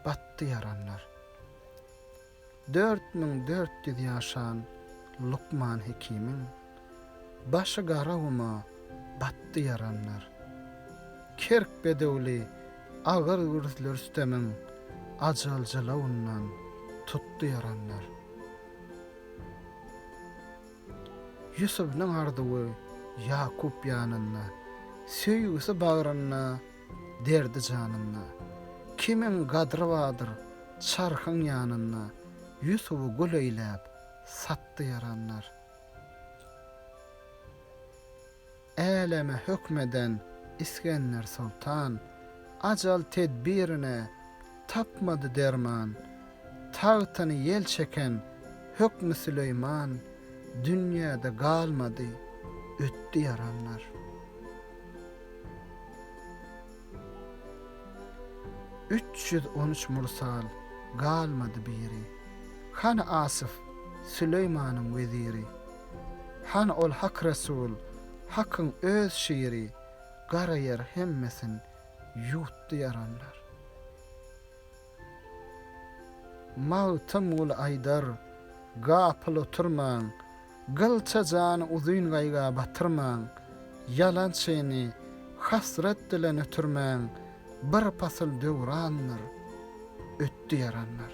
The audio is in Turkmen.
Batdy ýaranlar. Dört müň dört ýüz ýaşan lukman hekimiň Başy gara guma batdy ýaranlar. Kerk bedewli agyr gürsli Rüstemiň Ajal jylawyndan tutdy ýaranlar. Ýusubynyň arzuwy Ýakup ýanynda, Söýgüsi bagrynda, derdi janynda. Kimiň gadry bardyr çarhyň ýanynda, Ýusuby gul eýläp, satdy ýaranlar. Äleme höküm eden Isgender soltan, Ajal tedbirine tapmady derman. Tagtyny ýel çeken hökmi Süleýman, Dünýäde galmady, ötdi ýaranlar. Üç ýüz on üç mursal, galmady biri. Hany Asyf, Süleýmanyň weziri. Hany ol Hak Resul, Hakyň öz şiri, gara ýer hemmesin ýuwtdy ýaranlar. Magtymguly aýdar, Gapyl oturmaň, gylça jany uzyn gaýga batyrmaň, ýalan çyny, hasrat dile nötrmäň, bir pasyl döwrandyr, ötdi ýaranlar.